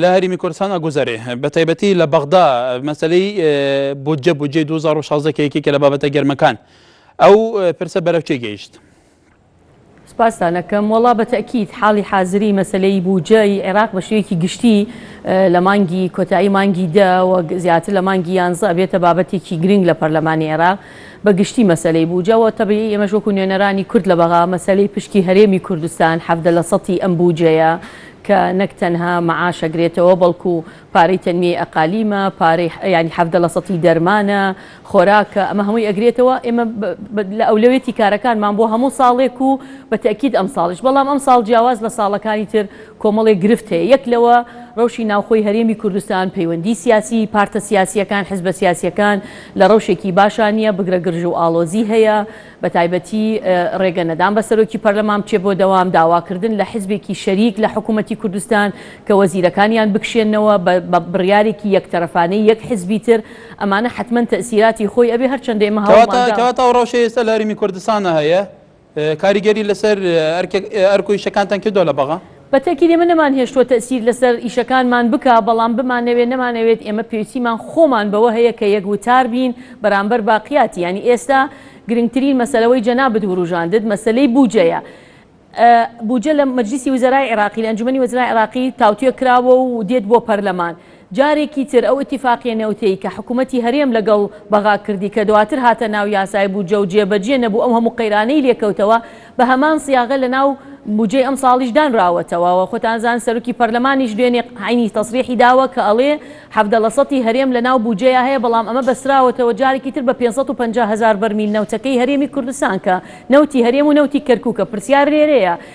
لە هەرێمی کوردستان ئەگوزەرێ بە تایبەتی لە بەغدا مەسلەی بودجە بودجەی 2016 کە یەکێکە لە بابەتە گەرمەکان ئەو پرسە بەرەو چێ گەیشت؟ سپاستانەکەم وەڵا بە تەکیت حاڵی حازری مەسلەی بوجەی عێراق بە شوێکی گشتی لە مانگی کۆتایی مانگی دە وەک زیاتر لە مانگی یانزە بێتە بابەتێکی گرنگ لە پەرلەمانی عێراق بە گشتی مەسلەی بوجەوە تەبیی ئێمەش وەکو نوێنەرانی کورد لە بەغا مەسلەی پشکی هەرێمی کوردستان حەفدە لە سەتی ئەم بوجەیە کە نەک تەنها مەعاش ئەگرێتەوە بەڵکو پارەی تەنمیەی ئەقالیمە، پارەی یانی حەڤدە لە سەتی دەرمانە، خۆراکە، ئەمە هەمووی ئەگرێتەوە، ئێمە لە ئەولەوێتی کارەکانمان بۆ هەموو ساڵێک و بە تەئکید ئەمساڵیش، بەڵام ئەمساڵ جیاواز لە ساڵەکانی تر کۆمەڵێک گرفت هەیە، یەک لەوە رەوشی ناوخۆی هەرێمی کوردستان، پەیوەندی سیاسی، پارتە سیاسیەکان، حزبە سیاسیەکان لە رەوشێکی باشا نیە، بگرە گرژو ئاڵۆزی هەیە، بەتایبەتی ڕێگە نەدان بە سەرۆکی پەرلەمان بچێت بۆ دەوام، داواکردن لە حزبێکی شەریک لە حکوومەتی کوردستان کە وەزیرەکانیان بکشێنەوە بە بڕیارێکی یەک تەرەفانەی یەک حزبی تر، ئەمانە حەتمەن تەئسیراتی خۆی ئەبێ هەرچەندە ئێمە هەوڵمان دا. کەواتە ئەو ڕەوشەی ئێستا لە هەرێمی کوردستانە هەیە کاریگەری لەسەر ئەرک و ئیشەکانتان کردووە لە بەغا؟ بە تەکید ئێمە نەمانهێشتووە تەئسیر لەسەر ئیشەکانمان بکا، بەڵام بمانەوێ نەمانەوێت ئێمە پێویستیمان خۆمان بەوە هەیە کە یەک وتار بین بەرامبەر باقیاتی یانی ئێستا گرنگترین مەسەلە وەی جەنابت وروژاندت مەسەلەی بوجەیە بوجە لە مەجلیسی وزەرای عێراقی لە ئەنجومەنی وەزرای عێراقی تاوتوێ کراوە و دێت بۆ پەرلەمان جارێکی تر ئەو ئیتیفاقیە نەوتیەی کە حکومەتی هەرێم لەگەڵ بەغا کردی کە دواتر هاتە ناو یاسای بودجە و جێ بەجێ نەبوو ئەو هەموو قەیرانەی لێ کەوتەوە بە هەمان سیاغە لە ناو بودجەی ئەمساڵیش دانراوەتەوە و خۆتان زان سەرۆکی پەرلەمانیش دوێنێ عەینی تەسریحی داوە کە ئەڵێ حەڤدە لە سەتی هەرێم لە ناو بودجەیا هەیە بەڵام ئەمە بەستراوەتەوە جارێکی تر بە پێنج سەد و پەنجا هەزار بەرمیل نەوتەکەی هەرێمی کوردستان کە نەوتی هەرێم و نەوتی کەرکوکە پرسیار لێرەیە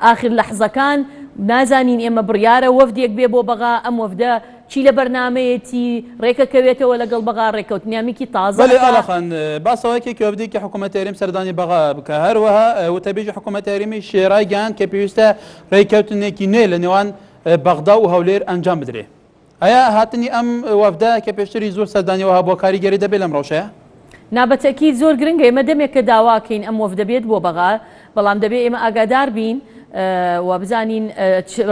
ئاخر لەحزەکان نازانین ئێمە بڕیارە وەفدێک بێ بۆ بەغا ئەم وەفدە چی لە بەرنامەیەتی رێکەکەوێتەوە لەگەڵ بەغا رێککەوتنیامکی تازە بەلی ئالا ئەکا. خان باسەوەکرد کە وەفدێکی حکومەتی هەرێم سەردانی بەغا بکا هەروەها وتەبێژی حکومەتی هەرێمیش رایگەیاند کە پێویستە رێککەوتنێکی نوێ لەنێوان بەغدا و هەولێر ئەنجام بدرێ. ئایا هاتنی ئەم وەفدە کە پێشتری زۆر سەردانی وەها بووە کاریگەری دەبێت لەم ڕەوشەیە؟ نا بە تەئکید زۆر گرنگە ئێمە دەمێکە داواکەین ئەم وەفدە بێت بۆ بەغا بەڵام دەبێ ئێمە ئاگادار بین و بزانین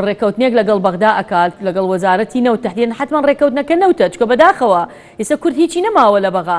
ڕێکەوتنێک لەگەڵ بەغدا ئەکات لەگەڵ وەزارەتی نەوت تەحدیدەن حتمما ڕێکەوتنەکە نەوتە چکە بەداخەوە ئێستا کورد هیچی نەماوە لە بەغا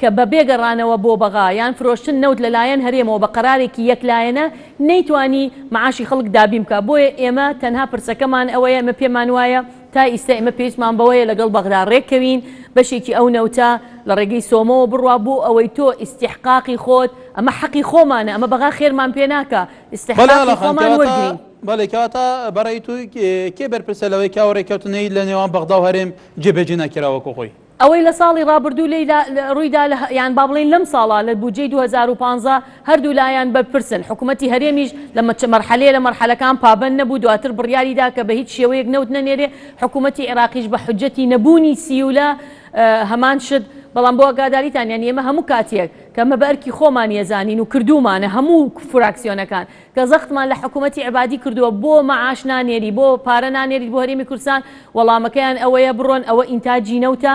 کە بەبێ گەڕانەوە بۆ بەغا یان فرۆشتن نەوت لەلایەن هەرێمەوە بە قەرارێکی یەک لایەنە نەیتوانی معاشی خەڵک دابین بکات بۆیە ئێمە تەنها پرسەکەمان ئەوەیە ئێمە پێمان وایە تا ئیستا ئێمە پێویستمان بەوەیە لەگەڵ بەغدا رێک کەوین بەشێکی ئەو نەوتە لە رێگەی سۆمۆوە بڕوا بۆ ئەوەی تۆ ئیستیحقاقی خۆت ئەمە حەقی خۆمانە ئەمە بەغا خێرمان پێ ناکا بەلێ ئاڵا ئیستیحقاقی خان خۆمان کەواتە وەرگرین. بەڵێ کەواتە بەڕای تۆ کێ بەرپرسە لەوەی کە ئەو رێککەوتنەی لە نێوان بەغدا و هەرێم جێبەجێ نەکرا وەکو خۆی؟ ئەوەی لە ساڵی ڕابردوو لێیدا ڕوویدا لە یان با بڵێین لەم ساڵە لە بودجەی دوو هەزار و پازدە هەردوو لایان بەرپرسن، حکومەتی هەرێمیش لە مەرحەلەیە لە مەرحەلەکان پابەند نەبوو، دواتر بڕیاری دا کە بە هیچ شێوەیەک نەوت نەنێرێ، حکومەتی عێراقیش بە حوجەتی نەبوونی سیولە هەمان شت، بەڵام بۆ ئاگاداریتان یانی ئێمە هەموو کاتیەک کە ئەمە بە ئەرکی خۆمانی ئەزانین و کردوومانە هەموو فراکسیۆنەکان. کە زەختمان لە حکومەتی عەبادی کردووە بۆ مەعاش نانێری بۆ پارە نانێریت بۆ هەرێمی کوردستان وەڵامەکەیان ئەوەیە بڕۆن ئەوە ئینتاجی نەوتە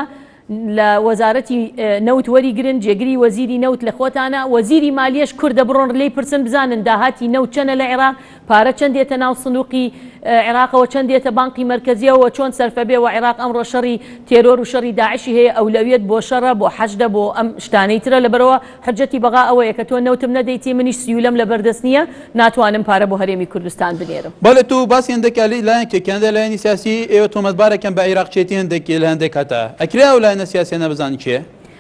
لە وەزارەتی نەوت وەری گرن جێگری وەزیری نەوت لە خۆتانە وەزیری مالیەش کوردە بڕۆن لێی پرسن بزانن داهاتی نەوت چەنە لە عێراق پارە چەند دێتە ناو سندوقی عێراقەوە چەند دێتە بانقی مەرکەزیەوە چۆن سەرفە بێ وە عێراق ئەمڕۆ شەڕی تێرۆر و شەڕی داعشی هەیە ئەولەویەت بۆ شەڕە بۆ حەشدە بۆ ئەم شتانەی ترە لەبەرەوە حجەتی بەغا ئەوەیە کە تۆ نەوتم نەدەیتی منیش سیولەم لەبەر دەست نیە ناتوانم پارە بۆ هەرێمی کوردستان بنێرم. بەڵێ تۆ باسی هەندێک لایەن کەی کەنەدا لایەنی سیاسی ئێوە تۆمەتبارە کەن بە عیراقچێتی هەندێک لە هەندێک هەتا ئەکرێ ئەو لایەنە سیاسیانە بزانن کێ.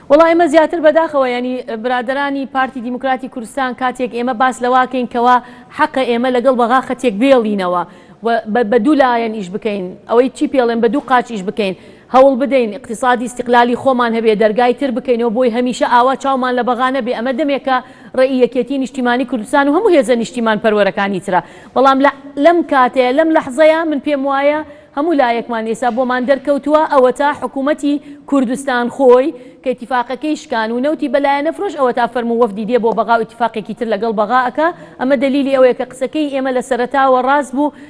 وەڵا ئێمە زیاتر بەداخەوە یانی برادەرانی پارتی دیموکراتی کوردستان کاتێک ئێمە باس لەواکەین کەوا حەقە ئێمە لەگەڵ بەغا خەتێک بێڵینەوە و بە دوو لایەن ئیش بکەین ئەوەی چی پێڵێن بە دوو قاچ ئیش بکەین هەوڵ بدەین ئیقتیسادی ئیستیقلالی خۆمان هەبێ، دەرگای تر بکەینەوە بۆی، هەمیشە ئاوا چاومان لە بەغا نەبێ، ئەمە دەمێکە ڕێی یەکێتیی نیشتیمانیی کوردستان و هەموو هێزە نیشتیمانپەروەرەکانی ترە، بەڵام لە لەم کاتەیە، لەم لەحزەیە من پێم وایە هەموو لایەکمان ئێستا بۆمان دەرکەوتووە، ئەوەتا حکوومەتی کوردستان خۆی کە ئیتیفاقەکەی شکان و نەوتی بە لایەنە فرۆش، ئەوەتا فەرموو وەفدی دێ بۆ بەغا و ئیتیفاقێکی تر لەگەڵ بەغا ئەکا، ئەمە دەلیلی ئەوەیە کە قسەکەی ئێمە لە سەرەتاوە ڕاست بوو،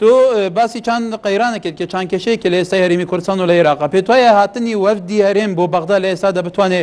تۆ باسی چەند قەیرانێک کرد کە چەند کێشەیەک لە ئێستای هەرێمی کوردستان و لە عێراق پێت وایە هاتنی وەفدی هەرێم بۆ بەغدا لە ئێستادا بتوانێ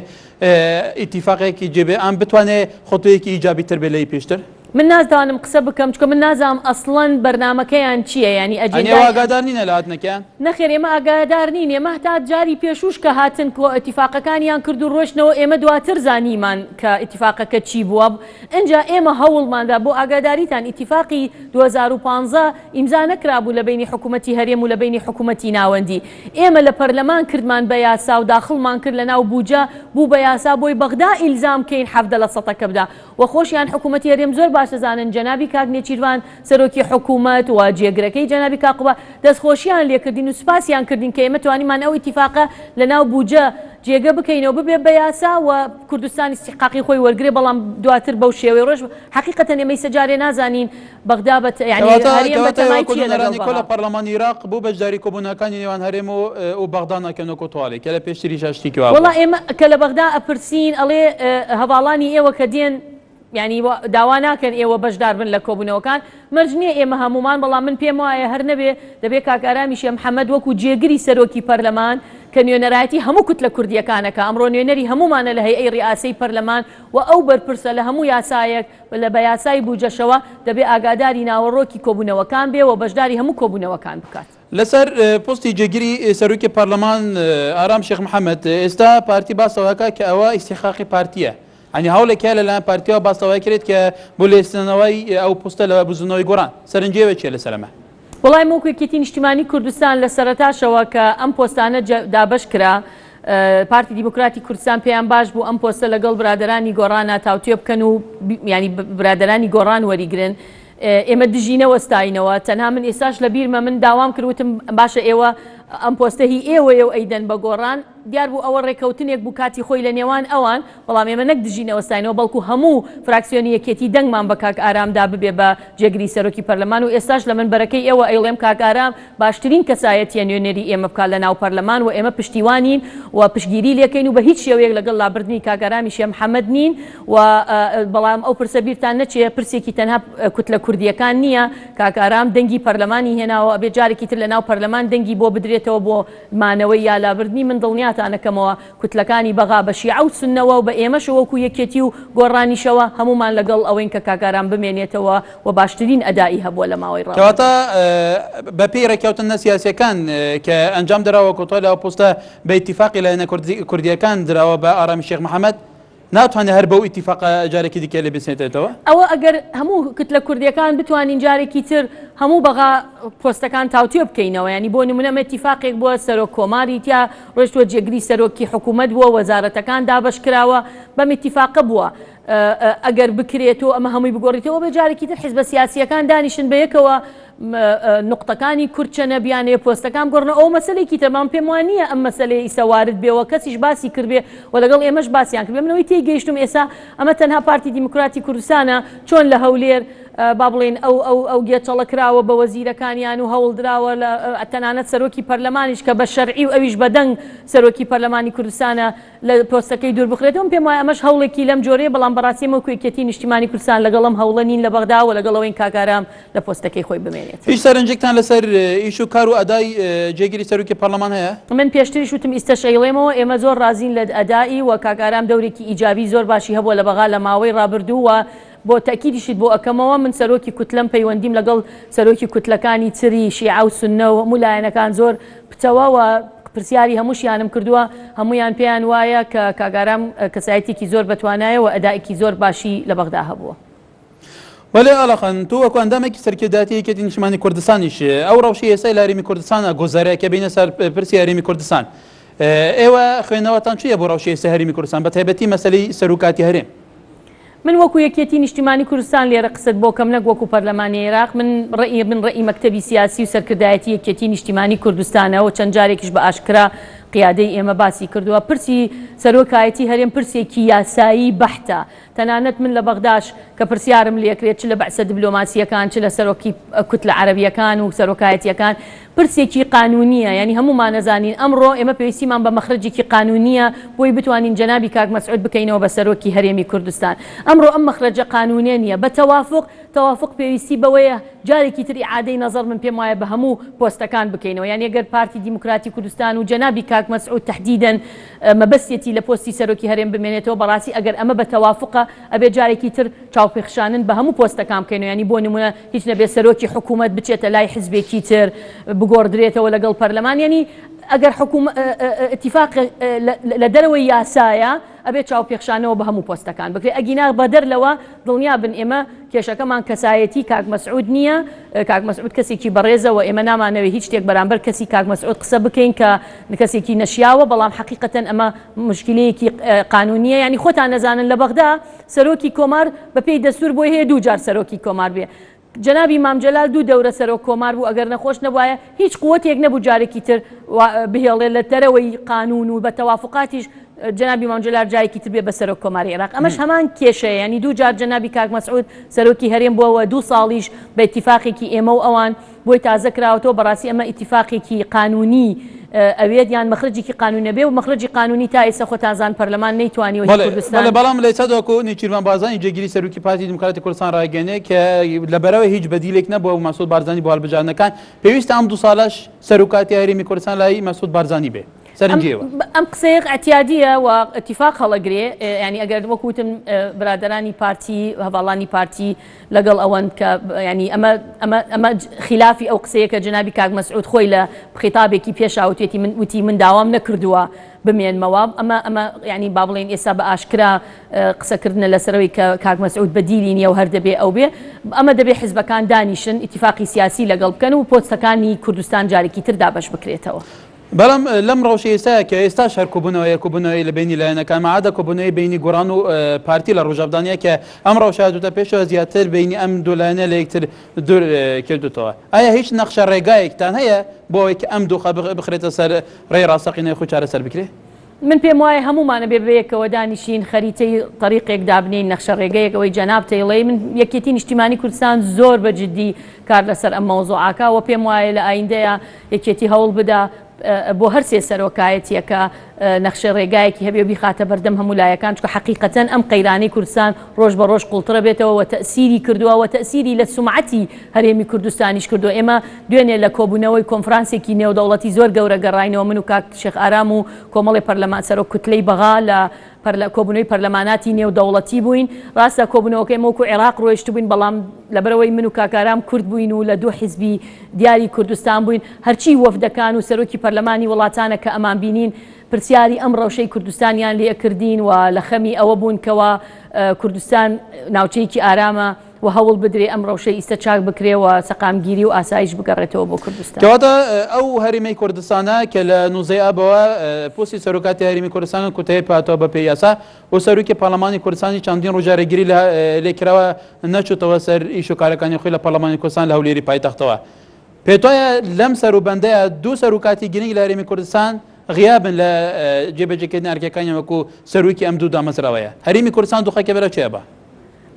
ئیتیفاقێکی جێبێ ئەم بتوانێ خۆتویەکی ئیجابی تر بێ لەی پێشتر من نازدانم قسە بکەم چکە من نازام ئەسڵەن بەرنمەکەیان چییە ینی ئەجێواگادار نینە لە هاتنەکەیان نەخێر ئێمە ئاگادار نین ئێمە تا جاری پێشوش کە هاتن کۆ ئەتیفاقەکانیان کرد و ڕۆشتنەوە ئێمە دواتر زانیمان کە ئتیفاقەکە چی بووە ئینجا ئێمە هەوڵماندا بۆ ئاگاداریتان ئیتیفاقی دوو هەزار و پازدە ئیمزا نەکرابوو لە بەینی حکومەتی هەرێم و لە بەینی حکومەتی ناوەندی ئێمە لە پەرلەمان کردمان بە یاسا و داخڵمان کرد لە ناو بوجە بوو بە یاسا بۆی بەغدا ئیلزام کەین حەڤدە لە سەتە کە بدا وە خۆشیان حکومەتی هەرێم زۆر باش دەزانن جەنابی کاک نێچیرڤان سەرۆکی حکوومەت و جێگرەکەی جەنابی کاقوبا دەستخۆشییان لێ کردین و سوپاسیان کردین کە ئێمە توانیمان ئەو ئیتیفاقە لە ناو بووجە جێگە بکەینەوە ببێ بە یاسا و کوردستان ئیستیحقاقی خۆی وەرگرێ بەڵام دواتر بەو شێوەی ڕۆیشت حەقیقەتەن ئێمە ئیستا جارێ نازانین بەغدا بە یانی کەواتە هەرێم بە کەواتە ئێوە تەمای چییە لەگەڵ کۆبوونەوەرانی کۆ لە بەغا. پەڕڵەمانی ئیراق بۆ بەشداری کۆبوونەوەکانی نێوان هەرێم و و بەغدا ناکەن وەکوو توالی کە لە پێشتریشا شتیکی وا وەڵا بووە؟ ئێمە کە لە بەغدا ئەپرسین ئەڵێ هەڤاڵانی ئێوە کە دێن، یانی داوا ناکەن ئێوە بەشدار بن لە کۆبوونەوەکان، مەرج نییە ئێمە هەموومان، بەڵام من پێم وایە هەر نەبێ دەبێ کاک ئارامی شێ محەمەد وەکوو جێگری سەرۆکی پەرلەمان کە نوێنەرایەتی هەموو کوتلە کوردییەکان ئەکا، ئەمڕۆ نوێنەری هەموومانە لە هەیئەی ریئاسەی پەرلەمان و ئەو بەرپرسە لە هەموو یاسایەک و لە بە یاسای بووجەشەوە، دەبێ ئاگاداری ناوەڕۆکی کۆبوونەوەکان بێ و بەشداری هەموو کۆبوونەوەکان بکات. لەسەر پۆستی جێگری سەرۆکی پەرلەمان ئارام شێخ محەمەد ئێستا پارتی باسەوەکە کە ئەوە ئیسیخاقی پارتیە ئەنی هەوڵێک هەیە لەلایەن پارتیەوە باسەوەی کرێت کە بۆ لێستنەوەی ئەو پۆستە لە بزنەوەی گۆڕان سەرنجێوە چێ لەسەر ئەمە وەڵای موک یەکێتی نیشتیمانی کوردستان لە سەرەتاشەوە کە ئەم پۆستانە دابەش کرا پارتی دیموکراتی کوردستان پێیان باش بوو ئەم پۆستە لەگەڵ برادرانی گۆڕانە تاوتوێ بکەن و ینی برادرانی گۆڕان وەریگرن ئێمە دژی نەوەستاینەوە تەنها من ئێستاش لە بیرمە من داوام کرد وتم باشە ئێوە ئەم پۆستە هی ئێوەیە و ئەیدەن بە گۆڕان دیار بوو ئەوە ڕێکەوتنێک بوو کاتی خۆی لە نێوان ئەوان بەڵام ئێمە نەک دژی نەوەستاینەوە بەڵکو هەموو فراکسیۆنی یەکێتی دەنگمان بە کاک ئارام دا ببێ بە جێگری سەرۆکی پەرلەمان و ئێستاش لە منبەرەکەی ئێوە ئەیڵێم کاک ئارام باشترین کەسایەتیە نوێنەری ئێمە بکات لە ناو پەرلەمان و ئێمە پشتیوانین و پشتگیری لێکەین و بە هیچ شێوەیەک لەگەڵ لابردنی کاک ئارامی شێخ محمد نین و بەڵام ئەو پرسە بیرتان نەچێ پرسێکی تەنها کوتلە کوردییەکان نییە، کاک ئارام دەنگی پەرلەمانی هێناوە ئەبێ جارێکی تر لەناو پەرلەمان دەنگی بۆ بدرێتەوە بۆ مانەوەی یا لابردنی من دڵنیاتان ئەکەمەوە کوتلەکانی بەغا بە شیعە و سوننەوە و بە ئێمەش وەکو یەکێتی و گۆڕانیشەوە هەموومان لەگەڵ ئەوەین کە کاک ئارام بمێنێتەوە و باشترین ئەدائی هەبووە لە ماوەی کەواتە ڕابردوو. بە پێی ڕێککەوتننە سیاسییەکان کە ئەنجام دراوە کۆتای لە ئەو پۆستە بە ئیتیفاقی لایەنە کوردییەکان دراوە بە ئارامی شێخ محەمەد، ناتوانێت هەر بەو ئیتیفاقە جارێکی دیکە لێ بسێتێتەوە. ئەوە ئەگەر هەموو کتلە کوردیەکان بتوانین جارێکی تر هەموو بەغا پۆستەکان تاوتوێ بکەینەوە یانی بۆ نمونە ئەمە ئیتیفاقێک بووە سەرۆک کۆماری تیا ڕۆشتوە جێگری سەرۆکی حکوومەت بووە وەزارەتەکان دابەش کراوە بەم ئیتیفاقە بووە ئەگەر بکرێت و ئەمە هەمووی بگۆڕیتەوە بێ جارێکی تر حزبە سیاسییەکان دانیشن بەیەکەوە نوقتەکانی کورد چەنە بیانەیە پۆستەکان بگۆڕنەوە ئەوە مەسەلێکی ترە بەڵام پێم وا نییە ئەم مەسەلەیە ئیستا وارد بێ و کەسیش باسی کردبێ و لەگەڵ ئێمەش باسیان کردبێ من ئەوەی تێیگەیشتووم ئێستا ئەمە تەنها پارتی دیموکراتی کوردستانە چۆن لە هەولێر با بڵێین ئەو ئەو ئەو گێچەڵە کراوە بە وەزیرەکانیان و هەوڵ دراوە لە تەنانەت سەرۆکی پەرلەمانیش کە بە شەرعی و ئەویش بە دەنگ سەرۆکی پەرلەمانی کوردستانە لە پۆستەکەی دووربخرێتەوە، من پێم وایە ئەمەش هەوڵێکی لەم جۆرەیە، بەڵام بەڕاستی ئێمە وەکو یەکێتیی نیشتیمانی کوردستان لەگەڵ ئەم هەوڵە نین لە بەغدا و لەگەڵ ئەوەین کاک ئارام لە پۆستەکەی خۆی بمێنێت. هیچ سەرنجێکتان لەسەر ئیش و کار و ئەدای جێگری سەرۆکی پەرلەمان هەیە؟ من پێشتریش وتم ئیستەش ئەیڵێمەوە، ئێمە زۆر ڕازین لە ئەدائی و کاک ئارام دەورێکی ئیجابی زۆر باشی هەبووە لە بەغا لە ماوەی ڕابردوو و، بۆ تەئکیدیشت بۆ ئەکەمەوە من سەرۆکی کوتلەم پەیوەندیم لەگەڵ سەرۆکی کوتلەکانی تری شیعە و سوننە و هەموو لایەنەکان زۆر پتەوە و پرسیاری هەمووشیانم کردووە هەموویان پێیان وایە کە کاک ئارام کەسایەتیەکی زۆر بەتوانایە و ئەدائەکی زۆر باشی لە بەغدا هەبووە. وەلێ ئالەقەن تۆ وەکو ئەندامێکی سەرکردایەتی یەکێتی نیشتمانی کوردستانیش ئەو ڕەوشەی ئێستای لە هەرێمی کوردستان ئەگوزارێ کە بێینە سەر پرسی هەرێمی کوردستان ئێوە خوێنەوەتان چیە بۆ ڕەوشی ئێستای هەرێمی کوردستان بەتایبەتی مەسەلەی سەروکاتی هەرێم؟ من وەکو یەکیەتی نیشتیمانی کوردستان لێرە قسەت بۆ کەم نەک وەکو پەرلەمانی عیراق من ڕەئی من ڕەئی مەکتەبی سیاسی و سەرکردایەتی یەکیەتی نیشتیمانی کوردستانە و چەند جارێکیش بە ئاشکرا قیادەی ئێمە باسی کردوە پرسی سەرۆکایەتی هەرێم پرسێکی یاسایی بەحتە تەنانەت من لە بەغداش کە پرسیارم لێکرێت چ لە بەعسە دبلۆماسیەکان چ لە سەرۆکی کوتلە عەرەبیەکان و سەرۆکایەتیەکان پرسێکی قانونیە یانی هەموومان ئەزانین ئەمڕۆ ئێمە پێویستیمان بە مەخرەجێکی قانونیە بۆی بتوانین جەنابی کاک مەسعود بکەینەوە بە سەرۆکی هەرێمی کوردستان ئەمڕۆ ئەم مەخرەجە قانونیە نیە بە تەوافوق تەوافوق پێویستی بەوەیە جارێکی تر ئیعادەی نەزەڕ من پێم وایە بە هەموو پۆستەکان بکەینەوە یانی گەر پارتی دیموکراتی کوردستان و جەنابی کاک مەسعود تەحدیدەن مەبەستیەتی لە پۆستی سەرۆکی هەرێم بمێنێتەوە بەڕاستی ئەگەر ئەمە بە تەوافوقە ئەبێ جارێکی تر چاوپێخشانن بە هەموو پۆستەکان بکەینەوە یانی بۆ نمونە هیچ نەبێت سەرۆکی حکومەت بچێتە لای حزبێکی تر بگۆڕدرێتەوە لەگەڵ پەرلەمان یەنی ئەگەر حکوم اتفاق لە دەرەوەی یاسایە ئەبێت چاوپێخشانەوە بە هەموو پۆستەکان بکرێت ئەگینا بەدەر لەوە دڵنیا بن ئێمە کێشەکەمان کەسایەتی کاک مەسعود نییە کاک مەسعود کەسێکی بەڕێزەوە ئێمە نامانەوێت هیچ شتێک بەرامبەر کەسی کاک مەسعود قسە بکەین کە کەسێکی نەشیاوە بەڵام حقیقەتەن ئەمە مشکلەیەکی قانونیە ینی خۆتان نەزانن لە بەغدا سەرۆکی کۆمار بە پێی دەستور بۆی هەیە دوو جار سەرۆکی کۆمار بێ جەنابی مام جەلال دوو دەورە سەرۆک کۆمار بوو ئەگەر نەخۆش نەبوایە هیچ قوتێک نەبوو جارێکی تر بهێڵێ لە دەرەوەی قانون و بە تەوافقاتیش جەنابی مام جەلال جایەکی تر بێ بە سەرۆک کۆماری عێراق ئەمەش هەمان کێشەیە ینی دوو جار جەنابی کاک مەسعود سەرۆکی هەرێم بووەوە دوو ساڵیش بە ئیتیفاقێکی ئێمە و ئەوان بۆی تازە کراوەتەوە بەڕاستی ئەمە ئیتیفاقێکی قانونی ئەوێت یان مەخرەجێکی قانونی ئەبێ و مەخرەجی قانونی تا ئێستا خۆتان زان پەرلەمان نەیتوانیوە هی کوردستان بەڵام لەئێستا تاوەکو نێچیرڤان بارزانی جێگیری سەرۆکی پارتی دیموکراتی کوردستان ڕایگەیەنێ کە لەبەرەوەی هیچ بەدیلێک نەبووە مەسعود بارزانی بۆ هەڵبژاردنەکان پێویستە ئەم دوو ساڵەش سەروکاتی هەرێمی کوردستان لای مەسعود بارزانی بێ سەرنجیەوە ئەم قسەیە ئەتیادیە و ئەتیفاق هەڵەگرێ ینی ئەگەر وەکوتم برادرانی پارتی هەواڵانی پارتی لەگەڵ ئەوەن کە یانی ئەمە ئەمە ئەمە خیلافی ئەو قسەیە کە جەنابی کاک مەسعود خۆی لە خیتابێکی پێشا وتوێتی من وتی من داوام نەکردووە بمێنمەوە ئەمە ئەمە یانی با بڵێن ئێستا بە ئاشکرا قسەکردنە لەسەرەوەی کە کاک مەسعود بەدیلی نییە و هەر دەبێ ئەو بێ ئەمە دەبێ حزبەکان دانیشن ئیتیفاقی سیاسی لەگەڵ بکەن و پۆستەکانی کوردستان جارێکی تر دابەش بکرێتەوە. بەڵام لەم ڕەوشەی ئێستایە کە ئێستاش هەر کۆبوونەوە هەیە، کۆبوونەوەی لە بەینی لایەنەکان، مەعادە کۆبوونەوەی بەینی گۆڕان و پارتی لە ڕۆژاڤدا نییە کە ئەم ڕەوشە هاتووتە پێشەوە، زیاتر بەینی ئەم دوو لایەنە لە یەکتر دوور کردووتەوە. ئایا هیچ نەخشە ڕێگایەکتان هەیە بۆ ئەوەی کە ئەم دۆخە بخرێتە سەر ڕێی ڕاستەقینەی خۆی چارەسەر بکرێت؟ من پێم وایە هەموومان ئەبێ بەیەکەوە دانیشین خەریتەی تەریقێک دابنێین نەخشە ڕێگەیەک ئەوەی جەناب تەیڵەی من یەکێتی نیشتیمانی کوردستان زۆر بە جدی کار لەسەر ئەم مەوزوعاکا وە پێم وایە لە ئایندەیە یەکێتی هەوڵ بدا بۆ هەر سێ سەرۆکایەتیەکە نەخشە ڕێگایەکی هەبێ بیخاتە بەردەم هەموو لایەکان چکە حقیقەتەن ئەم قەیرانی کوردستان ڕۆژ بە ڕۆژ قوڵترە بێتەوە وە تەسیری کردووە وە تەسیری لە سومعەتی هەرێمی کوردستانیش کردووە ئێمە دوێنێ لە کۆبوونەوەی کۆنفرانسێکی نێودەوڵەتی زۆر گەورە گەڕاینەوە من و کاک شێخ ئارام و کۆمەڵێ پەرلەمان سەرۆک کوتلەی بەغا لە کۆبوونەوەی پەرلەماناتی نێودەوڵەتی بووین ڕاستە کۆبوونەوەکە ئێمە وەکوو عێراق ڕۆیشتبووین بەڵام لەبەرئەوەی من و کاک ئارام کورد بووین و لە دوو حیزبی دیاری کوردستان بووین هەرچی وەفدەکان و سەرۆکی پەرلەمانی وڵاتانە کە ئەمان بینین پرسیاری ئەم ڕەوشەی کوردستانیان لێ کردین و لە خەمی ئەوە بوون کەوا کوردستان ناوچەیەکی ئارامە و هەوڵ بدرێ ئەم ڕەوشەی ئیستە چاک بکرێ و سەقامگیری و ئاسایش بگەڕێتەوە بۆ کوردستان. کەواتە ئەو هەرێمەی کوردستانە کە لە نوزەی ئابەوە پۆستی سەرۆکاتی هەرێمی کوردستان کۆتایی پاتەوە بە پێی یاسا و سەرۆکی پارلەمانی کوردستانیش چەندین ڕۆژ جارێگیری لێ کراوە نەچووتەوە سەر ئیش و کارەکانی خۆی لە پارلەمانی کوردستان لە هەولێری پایتەختەوە پێتوایە لەم سەروبەندەیا دوو سەرۆکاتی گرنگ لە هەرێمی کوردستان غیابن لە جێبەجێکردنی ئەرکەکانی وەکو سەرۆکی ئەم دوو دامەزراوەیە هەرێمی کوردستان دۆخەکەی بەرەو چیە بە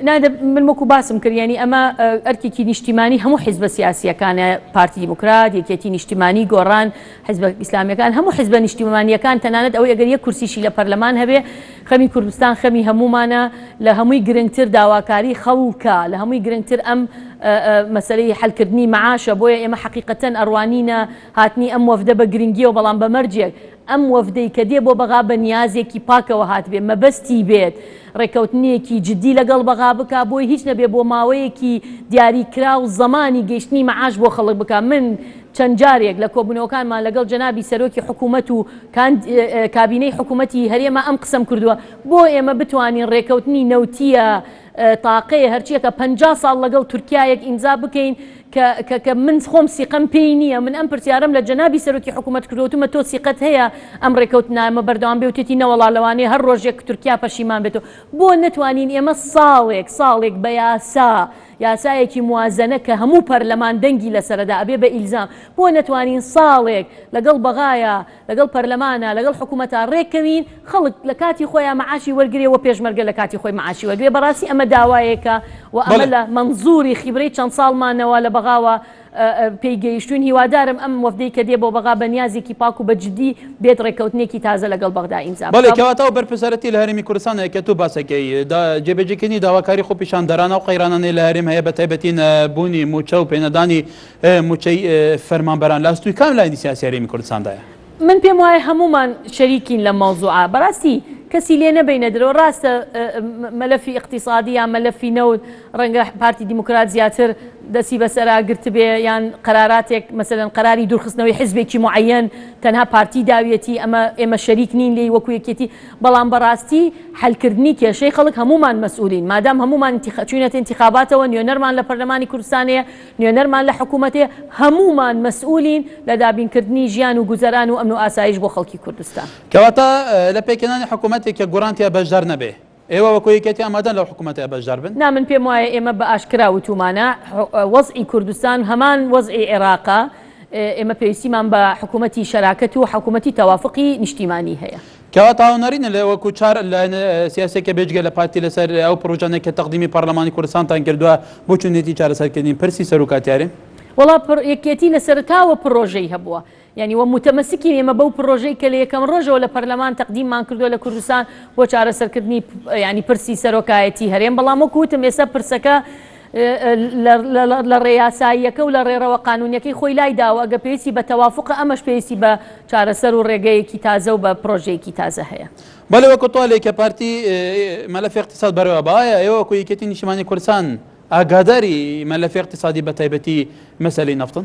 نا دە من وەکو باسم کرد یانی ئەمە ئەرکێکی نیشتیمانی هەموو حیزبە سیاسیەکانە پارتی دیموکرات یەکێتی نیشتیمانی گۆڕان حیزبە ئیسلامیەکان هەموو حیزبە نیشتیمانیەکان تەنانەت ئەوەی ئەگەر یەک کورسیشی لە پەرلەمان هەبێ خەمی کوردستان خەمی هەموومانە لە هەمووی گرنگتر داواکاری خەڵکە لە هەمووی گرنگتر ئەم مەسلەی حلکردنی معاشە بۆیە ئێمە حەقیقەتەن ئەڕوانینە هاتنی ئەم وەفدە بە گرنگیەوە بەڵام بە مەرجێک ئەم وەفدەی کە دێ بۆ بەغا بە نیازێکی پاکەوە هاتبێ، مەبەستی بێت ڕێککەوتنێکی جدی لەگەڵ بەغا بکا، بۆی هیچ نەبێ بۆ ماوەیەکی دیاری کراو زەمانی گەیشتنی مەعاش بۆ خەڵک بکا. من چەند جارێک لە کۆبوونەوەکانمان لەگەڵ جەنابی سەرۆکی حکوومەت و کابینەی حکوومەتی هەرێمە ئەم قسەم کردووە، بۆ ئێمە بتوانین ڕێککەوتنی نەوتییە تاقەیە هەرچیەکە پەنجا ساڵ لەگەڵ تورکیایەک ئیمزا بکەین کە کە من خۆم سیقەم پێی نییە من ئەم پرسیارم لە جەنابی سەرۆکی حکوومەت کردوتمە تۆ سیقەت هەیە ئەم ڕێکەوتنامە بەردەوام بێوتێتی نەوەڵا لەوانەیە هەر ڕۆژێک تورکیا پەشیمان بێت و بۆ نەتوانین ئێمە ساڵێک ساڵێک بە یاسا یاسایەکی موازنە کە هەموو پەرلەمان دەنگی لەسەردا ئەبێ بە ئیلزام بۆ نەتوانین ساڵێک لەگەڵ بەغایە لەگەڵ پەرلەمانە لەگەڵ حکومەتە ڕێککەوین خەڵک لە کاتی خۆیا مەعاشی وەرگرێ وە پێشمەرگە لە کاتی خۆی مەعاشی وەرگرێ بەڕاستی ئەمە داوایەکە وە ئەمە بەڵێ. لە مەنزوری خیبرەی چەند ساڵمانەوە لە بەغاوە پێی گەیشتوین هیوادارم ئەم وەفدەی کە دێ بۆ بەغا بە نیازێکی پاک و بە جدی بێت ڕێککەوتنێکی تازە لەگەڵ بەغدا ئیمزا بەڵێ بکا. کەواتە ئەو بەرپرسیارەتی لە هەرێمی کوردستانە کە تۆ باسەکەی دا جێبەجێکردنی داواکاری خۆپیشاندەران ئەو قەیرانانەی لە هەرێم هەیە بە تایبەتی نەبوونی مووچە و پێنەدانی موچەی فەرمانبەران لە ئەستوی کام لایەنی سیاسی هەرێمی کوردستاندایە؟ من پێم وایە هەموومان شەریکین لەم مەوزوعە بەڕاستی کەسی لێ نەبینە درۆ ڕاستە مەلەفی اقتصادی یا مەلەفی نەوت ڕەنگە پارتی دیموکرات زیاتر دەسی بەسەرا گرتبێ یان قەراراتێک مەسەن قەراری دوورخستنەوەی حزبێکی معەن تەنها پارتی داویەتی ئەمە ئێمە شەریک نین لێی وەکو یەکێتی بەڵام بەڕاستی حلکردنی کێشەی خەڵک هەمومان مەسئولین مادام هەمومان چوینەتە انتخاباتەوە نوێنەرمان لە پەرلەمانی کوردستانەیە نوێنەرمان لە حکوومەتێ هەموومان مەسئولین لە دابینکردنی ژیان و گوزەران و ئەمن و ئاسایش بۆ خەڵکی کوردستان. کەواتە لە پێکهێنانی حکوومەتێک کە گۆڕان تیا بەشدار نەبێ، ئێوە وەکوو یەکێتی ئامادەن لەو حکوومەتە بەشدار بن؟ نا من پێم وایە ئێمە بە ئاشکرا وتوومانە وەزعی کوردستان هەمان وەزعی عێراقە، ئێمە پێویستیمان بە حکوومەتی شەراکەت و حکوومەتی تەوافقی نیشتیمانی هەیە. کەواتە هونەری نەلێ وەکو چار لایەن سیاسیەکە بێجگە لە پارتی لەسەر ئەو پرۆژانەی کە تەقدیمی پارلەمانی کوردستانتان کردوە بۆ چون نێتی چارەسەرکردنی پرسی سەروکاتیاری؟ وەڵا پر یەکێتی لە سەرەتاوە پرۆژەی هەبووە یانی وە موتەمەسکین ئێمە بەو پرۆژەی کە لە یەکەم رۆژەوە لە پەرلەمان تەقدیممان کردوە لە کوردستان بۆ چارەسەرکردنی یانی پرسی سەرۆکایەتی هەرێم بەڵام وەکو وتم ئێستا پرسەکە لە ڕێ یاساییەکە و لە ڕێڕەوە قانوونیەکەی خۆی لای دا و ئەگەر پێویستی بە تەوافوقە ئەمەش پێویستی بە چارەسەر و ڕێگەیەکی تازە و بە پرۆژەیەکی تازە هەیە. بەلی وەکو تۆلەی کە پارتی مەلەفی اقتصاد بەرەوە با ئایا ئێوە وەکو یەکێتی نیشتیمانی کوردستان ئاگاداری مەلەفی اقتصادی بە تایبەتی مەسەلەی نەفتن؟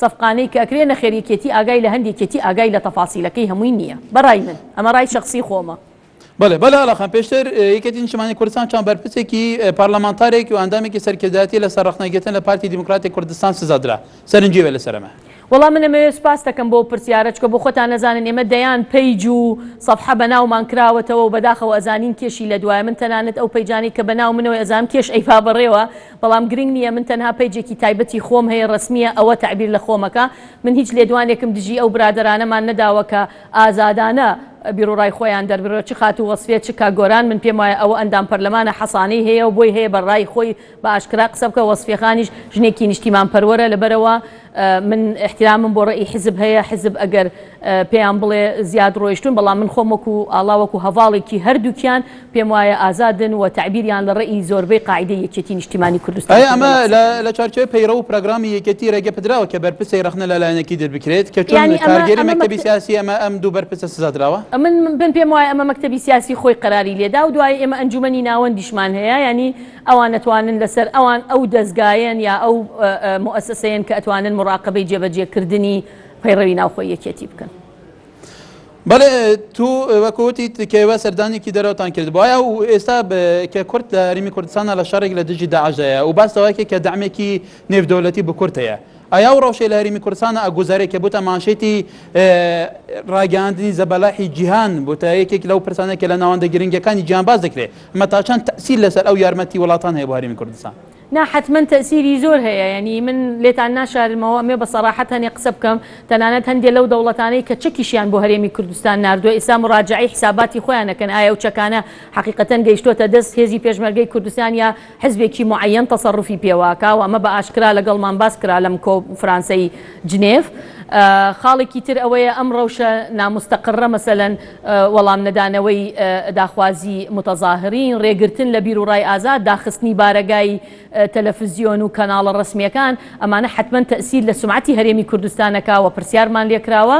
سەفقانەی کە ئەکرێ نەخێر یەکێتی ئاگای لە هەند یەکێتی ئاگای لە تەفاسیلەکەی هەمووی نییە بە رای من ئەمە رای شەخسی خۆمە. بەڵێ بەڵێ ئاڵاخان پێشتر یەکێتی نیشتمانی کوردستان چەند بەرپرسێکی پارلەمانتارێکی و ئەندامێکی سەرکردایەتی لەسەر ڕەخنە گرتن لە پارتی دیموکراتی کوردستان سزا درا سەرنجی بێ لەسەر ئەمە. وەڵا من ئەمەوێ سوپاستەکەم بۆ پرسیارە چکە بۆ خۆتان نەزانن ئێمە دەیان پەیج و سەفحە بەناومان کراوەتەوە و بەداخەوە ئەزانین کێشی لەدوایە من تەنانەت ئەو پەیجانەی کە بەناو منەوەی ئەزانم کێش ئەیبا بەڕێوە بەڵام گرنگ نییە من تەنها پەیجێکی تایبەتی خۆم هەیە ڕەسمییە ئەوە تەعبیر لە خۆمەکە من هیچ لێدوانێکم دژی ئەو برادەرانەمان نەداوە کە ئازادانە بیروڕای خۆیان دەربڕێ چ خاتوو وەسفیە چ کاک گۆران من پێم وایە ئەوە ئەندام پەرلەمانە حەسانەی هەیە و بۆی هەیە بە ڕای خۆی بە ئاشکرا قسە بکە وەسفیەخانیش ژنێکی نیشتیمان پەروەرە لەبەرئەوە من ئیحتیرامم بۆ ڕەئی حیزب هەیە، حیزب ئەگەر پێیان بڵێ زیاد ڕۆیشتون، بەڵام من خۆم وەکو ئاڵا وەکو هەڤاڵێکی هەردووکیان پێم وایە ئازادن و تەعبیریان لە ڕەئی زۆربەی قاعیدەی یەکێتی نیشتیمانی کوردستان ئایا ئەمە لە چارچێوەی پەیڕەو و پراگرامی یەکێتی ڕێگە پدراوە کە بەرپرسێک ڕەخنە لە لایەنێکی در بکرێت کە چۆن کارگێری مەکتەبی سیاسی ئەمە ئەم دوو بەرپرسە سزا دراوە؟ من پێم وایە ئەمە مەکتەبی سیاسی خۆی قەراری لێدا و دوایی ئێمە ئەنجومەنی ناوەندیشمان هەیە یانی ئەوان ئەتوانن لەسەر ئەوان ئەو دەزگایەن یا ئەو موئەسەسەیەن کە ئەتوانن موڕاقەبەی جێبەجێکردنی پەیڕەوی ناوخۆی یەکێتی بکەن. بەڵێ تو وەکو وتیت کە ئێوە سەردانێکی دەرەوەتان کردبوایە و ئێستا کە کورد لە هەرێمی کوردستانا لە شەڕێک لە دژی داعش دایە و باس لەوە کرد کە دەعمێکی نێودەولەتی بو کورد هەیە ئایا ئەو رەوشەی لە هەرێمی کوردستانا ئەگوزارێت کە بوتە مانشێتی راگەیاندنی زەبەلاحی جیهان بوتە یەکێک لەو پرسانەی کە لە ناوەندە گرنگەکانی جیهان باس دەکرێت مەتا چەند تەئسیر لەسەر ئەو یارمەتی وەلاتان هەیە بۆ هەرێمی کوردستان؟ نا حەتمەن تەئسیری زۆر هەیە یەنی من لێتان ناشارمەوە ئەمێ بە سەراحەت هەنێ قسە بکەم تەنانەت هەندێ لەو دەوڵەتانەی کە چەکیشیان بۆ هەرێمی کوردستان ناردوە ئیستا مراجەعەی حساباتی خۆیان ئەکەن ئایا ئەو چەکانە حەقیقەتەن گەیشتۆتە دەست هێزی پێشمەرگەی کوردستان یا حزبێکی معەیەن تەسەروفی پێواکا و ئەمە بە ئاشکرا لەگەڵمان باس کرا لەم کۆفرانسەی جنێف خاڵێکی تر ئەوەیە ئەم ڕەوشە نامستەقرە مەسەلەن وەڵام نەدانەوەی داخوازی موتەزاهرین، رێگرتن لە بیر و رای ئازاد، داخستنی بارەگای تەلەفزیۆن و کەناڵە رەسمیەکان، ئەمانە حەتمەن تەئسیر لە سومعەتی هەرێمی کوردستان ئەکا و پرسیارمان لێکراوە.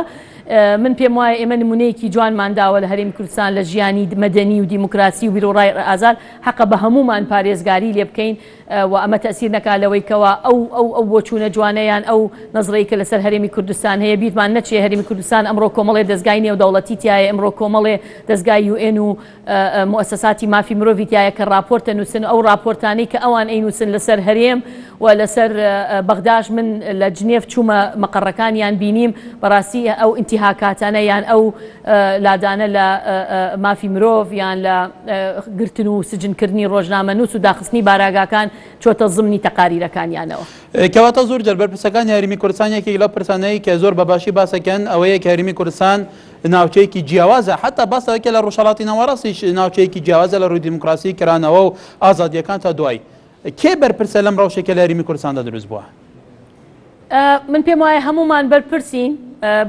من پێم وایە ئێمە نمونەیەکی جوانمان داوە لە هەرێمی کوردستان لە ژیانی مەدەنی و دیموکراسی و بیر و رای ئازاد، حەقە بە هەموومان پارێزگاری لێبکەین. و ئەمە تەئسیر نەکا لەوەی کەوا ئەو ئەو ئەو بۆچوونە جوانە یان ئەو نەزرەی کە لەسەر هەرێمی کوردستان هەیە بیرمان نەچێ هەرێمی کوردستان ئەمڕۆ کۆمەڵێ دەزگای نێودەوڵەتی تیایە ئمڕۆ کۆمەڵێ دەزگای یو ئێن و موئەسەساتی مافی مرۆڤی تیایە کە ڕاپۆرت دەنووسن و ئەو ڕاپۆرتانەی کە ئەوان ئەینووسن لەسەر هەرێم و لەسەر بەغداش من لە جنێف چوومە مەقەڕەکانیان بینیم بەڕاستی ئەو ئینتیهاکاتانە یان ئەو لادانە لە مافی مرۆڤ یان لە گرتن و سجنکردنی ڕۆژنامەنووس و داخستنی باراگاکان چۆتە زمنی تەقاریرەکانیانەوە. کەواتە زۆر جار بەرپرسەکانی هەرێمی کوردستان یەکێک لەو پرسانەی کە زۆر بە باشی باسەکەن ئەوەیە کە هەرێمی کوردستان ناوچەیەکی جیاوازە حەتا باس لەوەکە لە ڕۆژهەڵاتی ناوەڕاستیش ناوچەیەکی جیاوازە لە ڕووی دیموکراسی کرانەوە و ئازادیەکان تا دوایی کێ بەرپرسە لەم ڕەوشەی کە لە هەریمی کوردستاندا دروست بووە؟ من پێم وایە هەمومان بەرپرسین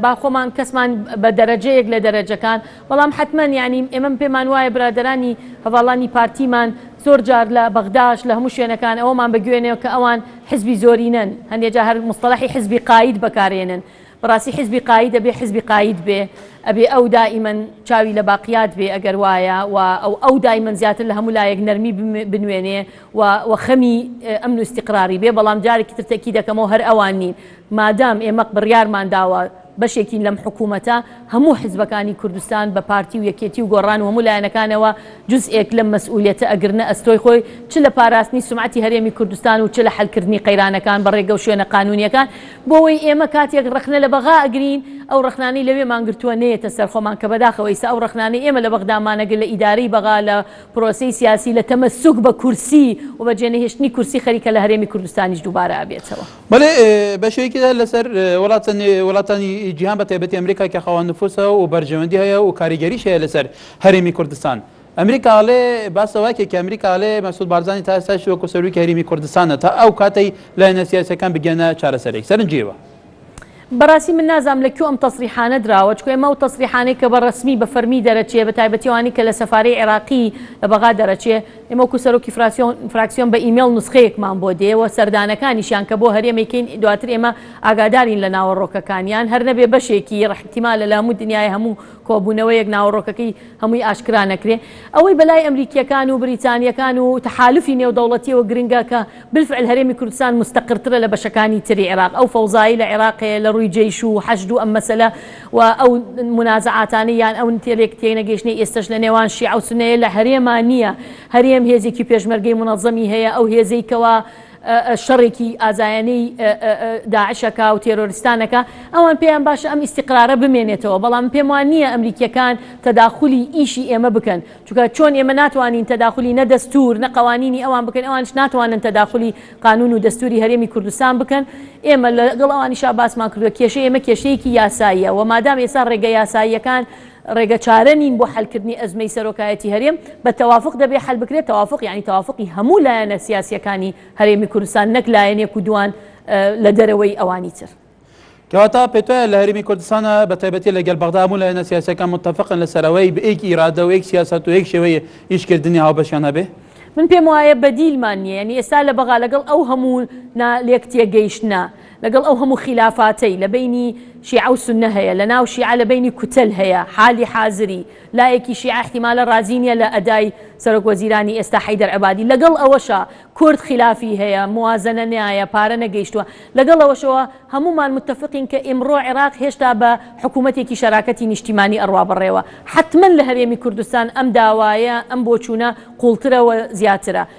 با خۆمان کەسمان بە دەرەجەیەک لە دەرەجەکان بەڵام حتمما ینی ئێمەم پێمان وایە برادرانی هەواڵانی پارتیمان زۆر جار لە بەغداش لە هەموو شوێنەکان ئەوەمان بە گوێنێ کە ئەوان حزبی زۆرینەن هەندێجا هەر مستەلحی حزبی قاید بەکارێنن بەڕاستی حیزبی قایید ئەبێ حیزبی قایید بێ ئەبێ ئەو دائیمەن چاوی لە باقیات بێ ئەگەر وایە و ئەو ئەو دایمەن زیاتر لە هەموو لایەک نەرمی بنوێنێ و و خەمی ئەمن و ئیستیقراری بێ بەڵام جارێکی تر تەکی دەکەمەوە هەر ئەوان نین مادام ئێمەق بڕیارمان داوە بەشێکین لەم حکوومەتە هەموو حزبەکانی کوردستان بە پارتی و یەکێتی و گۆڕان و هەموو لایەنەکانەوە جزئێک لەم مەسئولیەتە ئەگرنە ئەستۆی خۆی چ لە پاراستنی سومعەتی هەرێمی کوردستان و چ لە حەلکردنی قەیرانەکان بە ڕێگە و شوێنە قانوونیەکان بۆوەی ئێمە کاتێک ڕەخنە لە بەغا ئەگرین ئەو ڕەخنانەی لەوێمان گرتووە نەیەتە سەر خۆمان کە بەداخەوە ئیستا ئەو ڕەخنانەی ئێمە لە بەغدا مانەگر لە ئیدارەی بەغا لە پرۆسەی سیاسی لە تەمەسوک بە کورسی و بە جێنەهێشتنی کورسی خەریکە لە هەرێمی کوردستانیش دووبارە ئەبێتەوە. بەڵێ بەشێکی زۆر لەسەر وڵاتانی جیهان بە تایبەتی ئەمریکا کە خاوەن نفوسە و بەرژەوەندی هەیە و کاریگەریش هەیە لەسەر هەرێمی کوردستان. ئەمریکا ئەڵێ، باس لەوە ئەکەی کە ئەمریکا ئەڵێ مەسعود بارزانی تا ئێستاشی وەکو سەرۆکی هەریمی کوردستانە تا ئەو کاتەی لایەنە سیاسیەکان بگەنە چارەسەرێک. سەرنجیەوە. بەڕاستی من نازام لە کوێ ئەم تەسریحانە دراوە چکە ئێمە ئەو تەسریحانەی کە بە ڕەسمی بە فەرمی دەرەچێ بە تایبەتی ئەوانەی کە لە سەفارەی عێراقی لە بەغا دەرەچێ ئێمە وەکو سەرۆکی فراسیۆن فراکسیۆن بە ئیمێڵ نوسخەیەکمان بۆ دێ و سەردانەکانیشیان کە بۆ هەرێم ئەیکەین دواتر ئێمە ئاگادارین لە ناوەڕۆکەکانیان هەر نەبێ بەشێکی ئیحتیمالە لە هەموو دنیای هەموو کۆبوونەوەیەک ناوەڕۆکەکەی هەمووی ئاشکرا نەکرێ، ئەوەی بەلای ئەمریکییەکان و بریتانییەکان و تەحالوفی نێودەوڵەتییەوە گرنگە کە بالفعل هەرێمی کوردستان مستقرترە لە بەشەکانی تری عێراق، ئەو فەوزایەی لە عێراق هەیە لە رووی جەیش و حەشد و ئەم مەسەلە و ئەو منازەعاتانەی یان ئەو تێلێک تێنەگەیشتنەی ئێستەش لە نێوان شیعە و سوننەیە لە هەرێما نییە، هەرێم هێزێکی پێشمەرگەی مونەزەمی هەیە، ئەو هێزەی کەوا. شەڕێکی ئازایانەی داعشەکە و تێرۆرستانەکە ئەوان پێیان باشە ئەم ئیسیقرارە بمێنێتەوە بەڵام پێم وان نییە ئەمریکیەکان تەداخلی ئیشی ئێمە بکەن چکە چۆن ئێمە ناتوانین تەداخلی نە دەستور نە قوانینی ئەوان بکەن ئەوانش ناتوانن تەداخلی قانون و دەستوری هەرێمی کوردستان بکەن ئێمە لەگەڵ ئەوانیشا باسمان کردوە کێشە ئێمە کێشەیەکی یاساییە و مادام ئێستا ڕێگە یاساییەکان ڕێگە چارە نین بۆ حەلکردنی ئەزمەی سەرۆکایەتی هەرێم، بە تەوافق دەبێ حەل بکرێ، تەوافق یانی تەوافقی هەموو لایەنە سیاسییەکانی هەرێمی کوردستان نەک لایەنێک و دووان لە دەرەوەی ئەوانی تر. کەواتە پێتوایە لە هەرێمی کوردستانا بە تایبەتی لە گەل بەغدا هەموو لایەنە سیاسییەکان موتەفقن لە سەر ئەوەی بە یەک ئیرادە و یەک سیاسەت و یەک شێوەی ئیش کردنی هاوبەشیان هەبێ؟ من پێم وایە بەدیلمان نییە یانی ئێستا لە بەغا لەگەڵ ئەو هەموو نا لێکتێگەیشتنە، لەگەڵ ئەو هەموو خیلافاتەی لە بەینی شیعە و سوننە هەیە، لە ناو شیعە لە بەینی کوتەل هەیە، حالی حازری لایەکی شیعە احتمالە رازی نیە لە ئەدای سەرۆک وەزیرانی ئێستا حەیدەر عەبادی، لەگەڵ ئەوەشا کورد خیلافی هەیە، موازەنە نایە، پارە نەگەیشتوە، لەگەڵ ئەوەشەوە هەموومان متفقین کە ئیمڕۆ عێراق هێشتا بە حکومەتێکی شەراکەتی نیشتیمانی ئەڕوا بەڕێوە، حەتمەن لە هەرێمی کوردستان ئەم داوایە، ئەم بۆچوونە قوڵترە و زیاترە.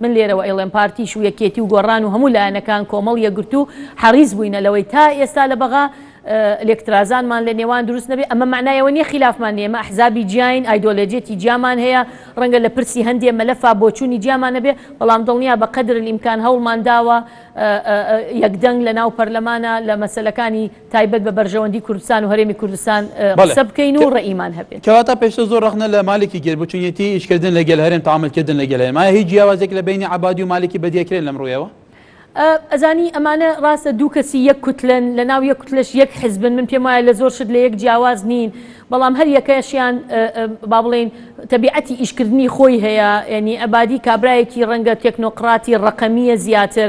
من لێرەوە ئەیڵێم پارتیش و یەکێتی و گۆڕان و هەموو لایەنەکان کۆمەڵ یەکگرتوو حەڕیس بووینە لەوەی تا ئێستا لە بەغا لێکترازانمان لە نێوان دروست نەبێ ئەمە مەعنای ئەوە نیە خیلافمان نیە ئێمە ئەحزابی جیاین ئایدۆلەجێتی جیامان هەیە ڕەنگە لە پرسی هەندێ مەلەفا بۆچوونی جیامان هەبێ بەڵام دڵنیا بە قەدرلئیمکان هەوڵمان داوە یەکدەنگ لە ناو پەرلەمانا لە مەسەلەکانی تایبەت بە بەرژەوەندی کوردستان و هەرێمی کوردستان قسە بکەین و ڕەئیمان هەبێت. کەواتە پێشتر زۆر ڕەخنە لە مالکی گرت بۆ چونیەتی ئیشکردن لە گەل هەرێم تەعامول کردن لە گەل هەرێم ئایا هیچ جیاوازیەک لە بەینی عەبادی و مالکی بەدیە کرێن لەم ڕویەوە؟ ئەزانی ئەمانە ڕاستە دوو کەسی یەک کوتلەن لە ناو یەک کوتلەش یەک حزبن من پێم وایە لە زۆر شت لە یەک جیاواز نین بەڵام هەر یەکەشیان با بڵێین تەبیعەتی ئیشکردنی خۆی هەیە یانی عەبادی کابرایەکی ڕەنگە تێکنۆقڕاتی ڕەقەمیە زیاتر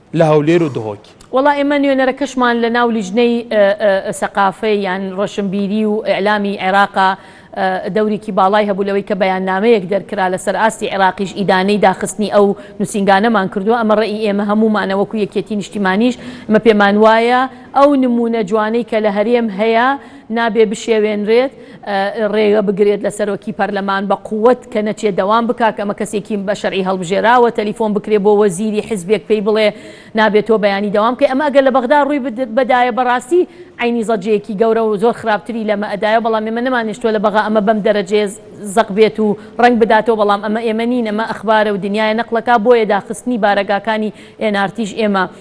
لە هەولێر و دهۆک. وەڵا ئێمە نوێنەرەکەشمان لە ناو لیجنەی سەقافە یان ڕۆشنبیری و ئیعلامی عێراقا دەوریکی باڵای هەبوو لەوەی کە بەیاننامەیەک دەرکرا لە سەر ئاستی عێراقیش ئیدانەی داخستنی ئەو نوسینگانەمان کردوە ئەمە ڕێی ئێمە هەموومانە وەکو یەکیەتی نیشتیمانیش ئمە پێمان وایە ئەو نمونە جوانەی کە لە هەرێم هەیە نابێ بشێوێنرێت ڕێگە بگرێت لە سەرۆکی پەرلەمان بە قوت کە نەچێ دەوام بکا کە ئەمە کەسێکی بە شەرعی هەڵبژێراوە تەلیفۆن بکرێ بۆ وەزیری حزبێک پێی بڵێ نابێ تۆ بەیانی دەوام بکەی ئەمە ئەگەر لە بەغدا ڕووی بدایە بەڕاستی عەینی زەجەیەکی گەورە و زۆر خراپتری لەمە ئەدایەوە بەڵام ئێمە نەمانهێشتووە لە بەغا ئەمە بەم دەرەجەیە زەق بێت و ڕەنگ بداتەوە بەڵام ئەمە ئێمە نین ئەمە ئەخبارە و دنیایە نەقڵەکە بۆیە داخستنی بارەگاکانی ئێن ئارتیش ئێمە